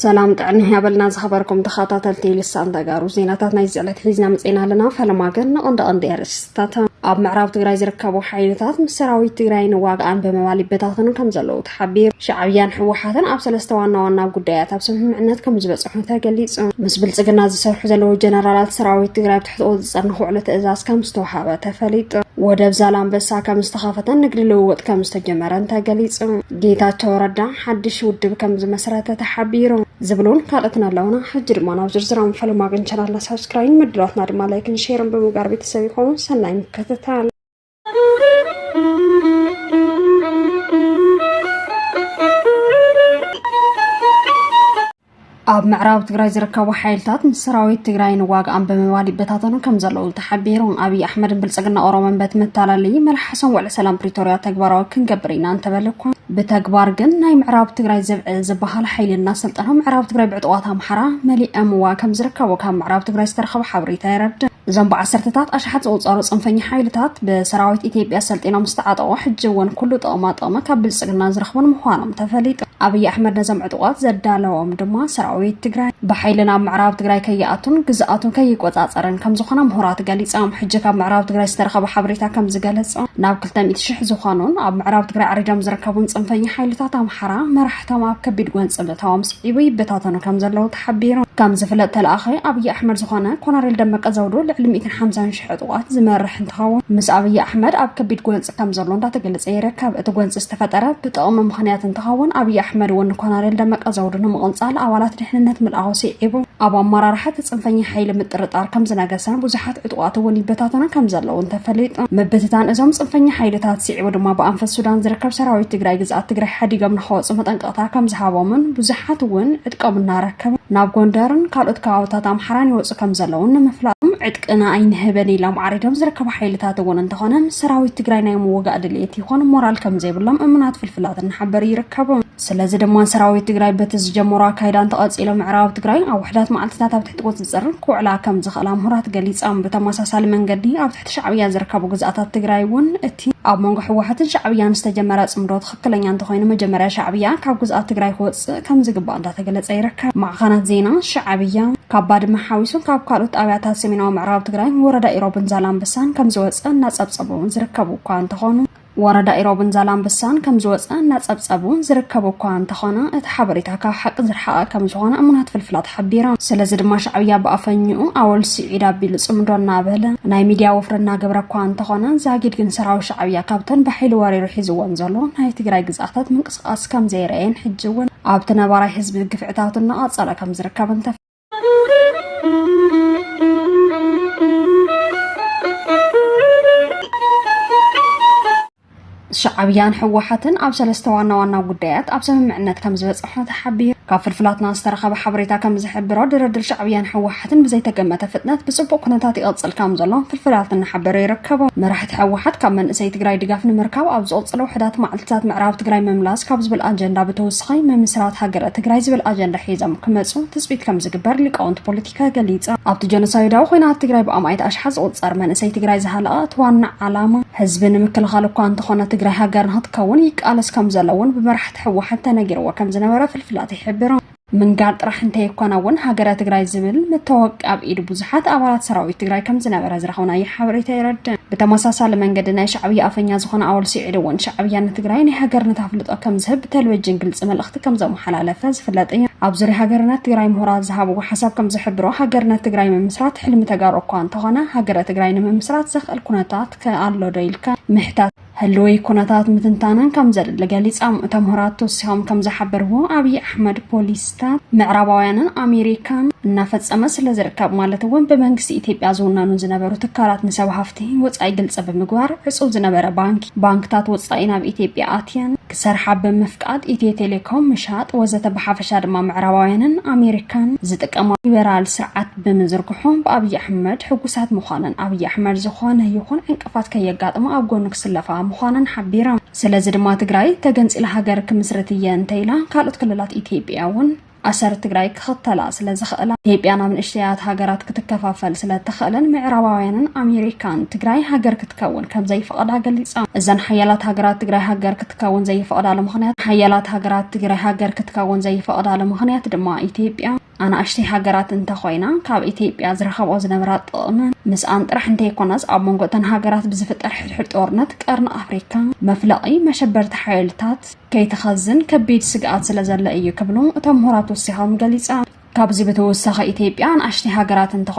ሰላም ጥዕና ያበልና ዝኸበርኩም ተኸታተልቲ ልሳን ተጋሩ ዜናታት ናይ ዝዕለት ሒዝና መፅና ኣለና ፈለማ ግን ንቐንዲ ቀንዲ የርስ እቶም ኣብ ምዕራብ ትግራይ ዝርከቡ ሓይልታት ምስ ሰራዊት ትግራይ ንዋግኣን ብምባል ይበታተኑ ከም ዘለዉ ተሓቢሩ። ሻዕብያን ህወሓትን ኣብ ሰለስተ ዋና ዋና ጉዳያት ኣብ ስምምዕነት ከም ዝበፅሑ ተገሊፁ። ምስ ብልፅግና ዝሰርሑ ዘለዉ ጀነራላት ሰራዊት ትግራይ ኣብ ትሕጥኡ ዝፀርኒ ክውዕሉ ትእዛዝ ከም ዝተውሃበ ተፈሊጡ። ወደብ ዛላምበሳ ከም ዝተኸፈተን ንግዲ ልውውጥ ከም ዝተጀመረን ተገሊፁ። ጌታቸው ረዳ ሓድሽ ውድብ ከም ዝመስረተ ተሓቢሩ ዝብሉን ካልኦትን ኣለውና ሕጂ ድማ ናብ ዝርዝራም ፈለማ ግን ቻናልና ሳብስክራይን ምድራትና ድማ ላይክን ሼርን ብምግባር ቤተሰብ ይኾኑ ሰናይ ምክትታል ኣብ ምዕራብ ትግራይ ዝርከቡ ሓይልታት ምስ ሰራዊት ትግራይ ንዋግኣም ብምባል ይበታተኑ ከም ዘለዉ ተሓቢሩ ኣብዪ ኣሕመድን ብልፅግና ኦሮሞን በቲ መታለሊ መልሓሶም ውዕሊ ሰላም ፕሪቶርያ ተግባራዊ ክንገብር ኢና እንተበለ እኳ ብተግባር ግን ናይ ምዕራብ ትግራይ ዘብዐ ዝበሃል ሓይሊ እናሰልጠኖ ምዕራብ ትግራይ ብዕጡቋት ኣምሓራ መሊኦምዋ ከም ዝርከቡ ካብ ምዕራብ ትግራይ ዝተረኸበ ሓበሬታ የረድእ። እዞም ብዓሰርተታት ኣሽሓት ዝቑፀሩ ፅንፈኛ ሓይልታት ብሰራዊት ኢትዮጵያ ሰልጢኖም ዝተዓጠቑ ሕጂ እውን ኩሉ ጥቕማ ጥቕሚ ካብ ብልፅግና ዝረኽቡን ምዃኖም ተፈሊጡ። ኣብይ ኣሕመድ ነዞም ዕጡቓት ዘዳለዎም ድማ ሰራዊት ትግራይ ብሓይሊ ናብ ምዕራብ ትግራይ ከይኣቱን ግዝኣቱ ከይቆፃፀርን ከምዝኾነ ምሁራት ገሊፆም። ሕጂ ካብ ምዕራብ ትግራይ ዝተረኸበ ሓበሬታ ከምዝገለፆ ናብ ክልተ ሚእቲ ሽሕ ዝኾኑን ኣብ ምዕራብ ትግራይ ዓሪዶም ዝርከቡን ፅንፈኛ ሓይልታት ኣምሓራ መራሕቶም ኣብ ከቢድ ጎንፂ ምእታዎም ስዒቡ ይበታተኑ ከምዘለዉ ሓቢሩ። ከም ዝፍለጥ ተለኣኺ ኣብይ ኣሕመድ ዝኾነ ኮነሬል ደመቀ ዘውዱ ልዕሊ ሚእትን ሓምሳን ሽሕ ዕጡቓት ዝመርሕ እንትኸውን ምስ ኣብይ ኣሕመድ ኣብ ከቢድ ጎንፂ ከም ዘሎ እንዳተገለፀ ይርከብ። እቲ ጎንፂ ዝተፈጠረ ብጥቕሚ ምኽንያት እንትኸውን ኣብይ ኣሕመድ እውን ንኮነሬል ደመቀ ዘውዱ ንምቕንፃል ኣባላት ድሕንነት ምልኣኹ ስዒቡ ኣብ ኣመራርሓ እቲ ፅንፈኛ ሓይሊ ምጥርጣር ከም ዝነገሰን ብዙሓት ዕጡቓት እውን ይበታተኑ ከም ዘለውን ተፈሊጡ። ምብትታን እዞም ፅንፈኛ ሓይልታት ስዒቡ ድማ ብኣንፈት ሱዳን ዝርከብ ሰራዊት ትግራይ ግዝኣት ትግራይ ሓዲጎም ንኸወፁ መጠንቀ ስጦታ ከም ዝሃቦምን ብዙሓት እውን ዕጥቆም እናረከቡ ናብ ጎንደርን ካልኦት ከባብታት ኣምሓራን ይወፁ ከም ዘለውን ንምፍላጦም ዕጥቅና ኣይንህብን ኢሎም ዓሪዶም ዝርከቡ ሓይልታት እውን እንተኾነ ምስ ሰራዊት ትግራይ ናይ ምውጋእ ድልየት ይኹን ሞራል ከም ዘይብሎም እሙናት ፍልፍላት እናሓበሩ ይርከቡ። ስለዚ ድማ ሰራዊት ትግራይ በቲ ዝጀመሮ ኣካይዳ እንተቐፂሎ ምዕራብ ትግራይ ኣብ ውሕዳት መዓልትታት ኣብ ትሕቲ ቁፅፅር ክውዕላ ከም ዝኽእላ ምሁራት ገሊፆም። ብተመሳሳሊ መንገዲ ኣብ ትሕቲ ሻዕብያ ዝርከቡ ግዝኣታት ትግራይ እውን እቲ ኣብ መንጎ ህወሓትን ሻዕብያን ዝተጀመረ ፅምዶ ትክክለኛ እንተኾይኑ መጀመርያ ሻዕብያ ካብ ግዝኣት ትግራይ ክወፅእ ከምዝግባእ እንዳተገለፀ ይርከብ። ማዕኸናት ዜና ሻዕብያ ካብ ባድመ ሓዊሱ ካብ ካልኦት ጣብያታት ሰሜናዊ ምዕራብ ትግራይ ወረዳ ኢሮብን ዛላምበሳን ከምዝወፀ እናፀብፀቡ ዝርከቡ እኳ እንተኾኑ ወረዳ ኢሮብን ዛላምበሳን ከምዝወፀ እናፀብፀቡ ዝርከቡ እኳ እንተኾነ እቲ ሓበሬታ ካብ ሓቂ ዝርሓቐ ከምዝኾነ እሙናት ፍልፍላት ሓቢሮም። ስለዚ ድማ ሻዕብያ ብኣፈኝኡ ኣወል ስዒድ ኣቢሉ ፅምዶ እናበለ ናይ ሚድያ ወፍሪ እናገበረ እኳ እንተኾነ ዛጊድ ግን ሰራዊት ሻዕብያ ካብተን ብሓይሊ ወሪሩ ሒዝወን ዘሎ ናይ ትግራይ ግዝኣታት ምንቅስቓስ ከምዘይረኣየን ሕጂ እውን ኣብቲ ነባራይ ህዝቢ ግፍዕታቱ እናቐፀለ ከምዝርከብን ተፈ ሻዕብያን ህወሓትን ኣብ ሰለስተ ዋና ዋና ጉዳያት ኣብ ስምምዕነት ከም ዝበፅሑ ተሓቢሩ ካብ ፍልፍላትና ዝተረኸበ ሓበሬታ ከም ዝሕብሮ ድርድር ሻዕብያን ህወሓት ሕትን ብዘይተገመተ ፍጥነት ብፅቡቕ ኩነታት ይቕፅል ከም ዘሎ ፍልፍላት እናሓበረ ይርከቡ። መራሕቲ ህወሓት ካብ መንእሰይ ትግራይ ድጋፍ ንምርካብ ኣብ ዝቕፅሉ ውሕዳት መዓልትታት ምዕራብ ትግራይ ምምላስ ካብ ዝብል ኣጀንዳ ብተወሳኺ ምምስራት ሃገረ ትግራይ ዝብል ኣጀንዳ ሒዞም ክመፁ ትፅቢት ከም ዝግበር ሊቃውንቲ ፖለቲካ ገሊፆም። ኣብቲ ጀኖሳይዳዊ ኹናት ትግራይ ብኣማኢት ኣሽሓት ዝቑፀር መንእሰይ ትግራይ ዝሃለቐ እቲ ዋና ዓላማ ህዝቢ ንምክልኻል እኳ እንተኾነ ትግራይ ሃገር ንክትከውን ይቃለስ ከም ዘሎ እውን ብመራሕቲ ህወሓት ተነጊርዎ ከም ዝነበረ ፍልፍላት ይሕብሩ። ምንጋር ጥራሕ እንተይኮነ እውን ሃገረ ትግራይ ዝብል መታወቂ ኣብ ኢድ ብዙሓት ኣባላት ሰራዊት ትግራይ ከም ዝነበረ ዝረኸብናዮ ሓበሬታ የረድእ። ብተመሳሳሊ መንገዲ ናይ ሻዕብያ ኣፈኛ ዝኾነ ኣወል ስዒድ እውን ሻዕብያ ንትግራይ ናይ ሃገርነት ኣፍልጦ ከም ዝህብ ብተልቨጅን ግልፂ መልእኽቲ ከም ዘመሓላለፈ ዝፍለጥ እዩ። ኣብ ዙርያ ሃገርነት ትግራይ ምሁራት ዝሃብዎ ሓሳብ ከም ዝሕብሮ ሃገርነት ትግራይ ምምስራት ሕልሚ ተጋሩ እኳ እንተኾነ ሃገረ ትግራይ ንምምስራት ዘኽእል ኩነታት ከ ኣሎ ዶ ኢልካ ምሕታት ህልዊ ኩነታት ምትንታንን ከም ዘድሊ ገሊጻም። እቶም ምሁራት ተወሲኾም ከም ዝሓበርዎ ኣብዪ ኣሕመድ ፖሊሲታት ምዕራባውያንን ኣሜሪካን እናፈጸመ ስለ ዝርከብ ማለት እውን ብመንግስቲ ኢትዮጵያ ዝውነኑ ዝነበሩ ትካላት ንሰብ ሃፍቲ ወጻኢ ግልጺ ብምግባር ዕጹው ዝነበረ ባንኪ ባንክታት ወጻኢ ናብ ኢትዮጵያ ኣትየን ክሰርሓ ብምፍቃድ ኢትዮ ቴሌኮም ምሻጥ ወዘተ ብሓፈሻ ድማ ምዕራባውያንን ኣሜሪካን ዝጥቀማ ሊበራል ስርዓት ብምዝርግሖም ብኣብዪ ኣሕመድ ሕጉሳት ምዃነን ኣብዪ ኣሕመድ ዝኾነ ይኹን ጥፍኣት ከየጋጥማ ኣብ ጎኑ ክስለፋ ምዃነን ሓቢሮም። ስለዚ ድማ ትግራይ ተገንፂላ ሃገር ክምስርት እየ እንተኢላ ካልኦት ክልላት ኢትዮጵያ እውን ኣሰር ትግራይ ክኽተላ ስለዝኽእላ ኢትዮጵያ ናብ ንእሽተያት ሃገራት ክትከፋፈል ስለእትኽእልን ምዕራባውያንን ኣሜሪካን ትግራይ ሃገር ክትከውን ከምዘይፈቐዳ ገሊፃ። እዘን ሓያላት ሃገራት ትግራይ ሃገር ክትከውን ዘይፈቕዳሉ ምኽንያት ሓያላት ሃገራት ትግራይ ሃገር ክትከውን ዘይፈቕዳሉ ምኽንያት ድማ ኢትዮጵያ ኣናእሽተይ ሃገራት እንተኾይና ካብ ኢትዮጵያ ዝረኸብኦ ዝነበራ ጥቕሚ ምስኣን ጥራሕ እንተይኮነስ ኣብ መንጎ እተን ሃገራት ብዝፍጠር ሕድሕድ ጦርነት ቀርኒ ኣፍሪካ መፍለቒ መሸበርቲ ሓይልታት ከይተኸዝን ከቢድ ስግኣት ስለ ዘሎ እዩ ክብሉ እቶም ምሁራት ወሲኾም ገሊፆም። ካብዚ ብተወሳኺ ኢትዮጵያ ኣናእሽተይ ሃገራት እንተኾ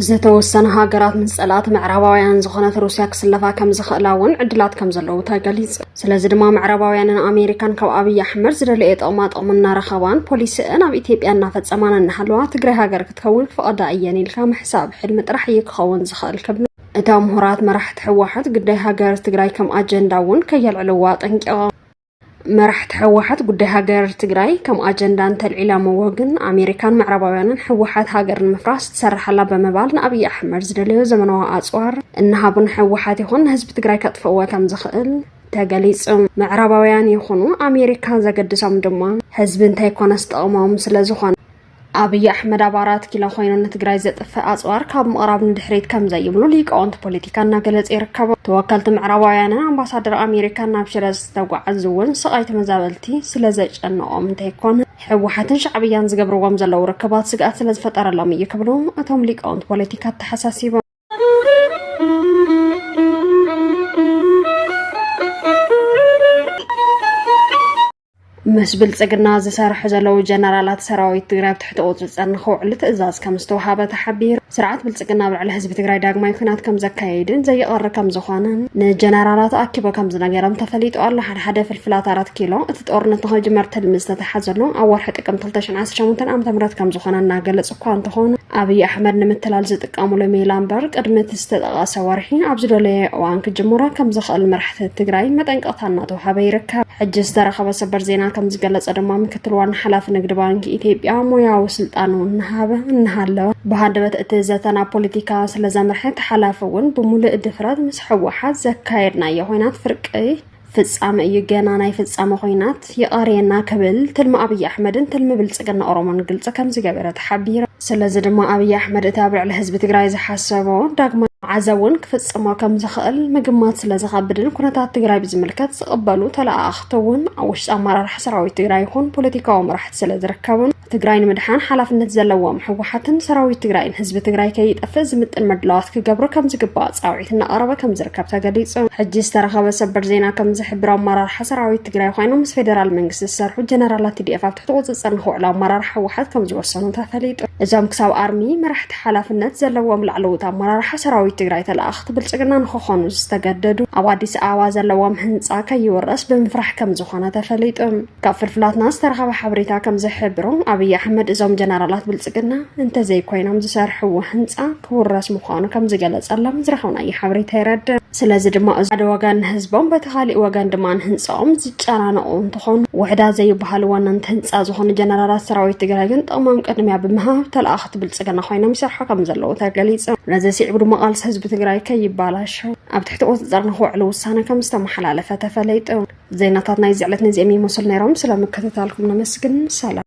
ዝተወሰና ሃገራት ምስ ጸላእቲ ምዕራባውያን ዝኾነት ሩስያ ክስለፋ ከም ዝኽእላ እውን ዕድላት ከም ዘለዉ ተገሊጹ። ስለዚ ድማ ምዕራባውያንን ኣሜሪካን ካብ ኣብይ ኣሕመድ ዝደለየ ጥቕማ ጥቕሚ እናረኸባን ፖሊሲእን ኣብ ኢትዮጵያ እናፈጸማን እናሃለዋ ትግራይ ሃገር ክትከውን ክፈቕዳ እየን ኢልካ ምሕሳብ ሕልሚ ጥራሕ እዩ ክኸውን ዝኽእል ክብሉ እታ ምሁራት መራሕቲ ህወሓት ግዳይ ሃገር ትግራይ ከም ኣጀንዳ እውን ከየልዕልዋ ኣጠንቂቖም። መራሕቲ ሕወሓት ጉዳይ ሃገር ትግራይ ከም ኣጀንዳ እንተልዒላምዎ ግን ኣሜሪካን ምዕራባውያንን ሕወሓት ሃገር ንምፍራስ ትሰርሓላ ብምባል ንኣብዪ ኣሕመድ ዝደለዮ ዘመናዊ ኣፅዋር እናሃቡ ንሕወሓት ይኹን ንህዝቢ ትግራይ ከጥፍእዎ ከም ዝኽእል ተገሊጹ። ምዕራባውያን ይኹኑ ኣሜሪካ ዘገድሶም ድማ ህዝቢ እንተይኮነስ ጥቕሞም ስለ ዝኾነ ኣብይ ኣሕመድ ኣብ ኣራት ኪሎ ኮይኑ ንትግራይ ዘጥፍእ ኣፅዋር ካብ ምቕራብ ንድሕሪት ከም ዘይብሉ ሊቃውንቲ ፖለቲካ እናገለጹ ይርከቡ። ተወከልቲ ምዕራባውያንን ኣምባሳደር ኣሜሪካን ናብ ሽረ ዝተጓዓዙ እውን ስቓይ ተመዛበልቲ ስለ ዘጨነቖም እንተይኮነ ህወሓትን ሻዕብያን ዝገብርዎም ዘለዉ ርክባት ስግኣት ስለ ዝፈጠረሎም እዩ ክብሉ እቶም ሊቃውንቲ ፖለቲካ ኣተሓሳሲቦም። ምስ ብልፅግና ዝሰርሑ ዘለዉ ጀነራላት ሰራዊት ትግራይ ኣብ ትሕቲ ቁፅፅር ንክውዕሉ ትእዛዝ ከም ዝተውሃበ ተሓቢሩ። ስርዓት ብልፅግና ኣብ ልዕሊ ህዝቢ ትግራይ ዳግማይ ኩናት ከም ዘካየድን ዘይቐሪ ከም ዝኾነን ንጀነራላት ኣኪቦ ከም ዝነገሮም ተፈሊጡ ኣሎ። ሓደ ሓደ ፍልፍላት ኣራት ኪሎ እቲ ጦርነት ንክጅመር ትልሚ ዝተተሓዘሉ ኣብ ወርሒ ጥቅምቲ 2018 ዓ.ም ከም ዝኾነ እናገለፁ እኳ እንተኾነ ኣብይ ኣሕመድ ንምትላል ዝጥቀሙሉ ሜላ እምበር ቅድሚ እቲ ዝተጠቐሰ ወርሒ ኣብ ዝደለየ እዋን ክጅምሮ ከም ዝኽእል መራሕቲ ትግራይ መጠንቀቕታ እናተውሃበ ይርከብ። ሕጂ ዝተረኸበ ሰበር ዜና ከም ዝገለጸ ድማ ምክትል ዋና ሓላፊ ንግዲ ባንኪ ኢትዮጵያ ሞያዊ ስልጣኑ እናሃበ እናሃለወ ብሃንደበት እቲ ዘተ ናብ ፖለቲካ ስለ ዘምርሐ እቲ ሓላፊ እውን ብምሉእ ድፍረት ምስ ሕወሓት ዘካየድናዮ ኮይናት ፍርቂ ፍጻመ እዩ ገና ናይ ፍጻመ ኮይናት ይቐርየና ክብል ትልሚ ኣብይ ኣሕመድን ትልሚ ብልጽግና ኦሮሞን ግልፂ ከምዝገበረ ተሓቢረ ስለዚ ድማ ኣብይ ኣሕመድ እቲ ኣብ ልዕሊ ህዝቢ ትግራይ ዝሓሰቦ ዳግማ መዓዘ እውን ክፍጽሞ ከምዝኽእል ምግማት ስለዝኸብድን ኩነታት ትግራይ ብዝምልከት ዝቕበሉ ተለኣኣኽቲ እውን ኣብ ውሽጢ ኣመራርሓ ሰራዊት ትግራይ ይኹን ፖለቲካዊ መራሕቲ ስለዝርከቡን ትግራይ ንምድሓን ሓላፍነት ዘለዎም ህወሓትን ሰራዊት ትግራይን ህዝቢ ትግራይ ከይጠፍእ ዝምጥን ምድላዋት ክገብሩ ከም ዝግባእ ፃውዒት እናቐረበ ከም ዝርከብ ተገሊፁ። ሕጂ ዝተረኸበ ሰበር ዜና ከም ዝሕብሮ ኣመራርሓ ሰራዊት ትግራይ ኮይኖም ምስ ፌደራል መንግስቲ ዝሰርሑ ጀነራላት ቲዲኤፍ ኣብ ትሕቲ ቁፅፅር ንክውዕሉ ኣመራርሓ ህወሓት ከም ዝወሰኑ ተፈሊጡ። እዞም ክሳብ ኣርሚ መራሕቲ ሓላፍነት ዘለዎም ላዕለዎት ኣመራርሓ ሰራዊት ትግራይ ተለኣኽቲ ብልፅግና ንክኾኑ ዝተገደዱ ኣብ ኣዲስ ኣበባ ዘለዎም ህንፃ ከይውረስ ብምፍራሕ ከም ዝኾነ ተፈሊጡ። ካብ ፍልፍላትና ዝተረኸበ ሓበሬታ ከም ዝሕብሮ ኣብይ ኣሕመድ እዞም ጀነራላት ብልፅግና እንተዘይኮይኖም ዝሰርሕዎ ህንፃ ክውረስ ምዃኑ ከም ዝገለፀሎም ዝረኸብናዮ ሓበሬታ የረድእ። ስለዚ ድማ እዚ ሓደ ወገን ንህዝቦም በቲ ካሊእ ወገን ድማ ንህንፃኦም ዝጨናነቑ እንትኾኑ ውሕዳት ዘይበሃሉ ወነንቲ ህንፃ ዝኾኑ ጀነራላት ሰራዊት ትግራይ ግን ጥቕሞም ቅድሚያ ብምሃብ ተለኣኽቲ ብልፅግና ኮይኖም ይሰርሑ ከም ዘለዉ ተገሊፁ። ነዚ ስዒቡ ድማ ቃልሲ ህዝቢ ትግራይ ከይበላሸው ኣብ ትሕቲ ቁፅፅር ንክውዕሉ ውሳነ ከም ዝተመሓላለፈ ተፈሊጡ። ዜናታት ናይዚ ዕለት ነዚኦም ይመስሉ ነይሮም። ስለ ምክትታልኩም ነመስግን። ሰላም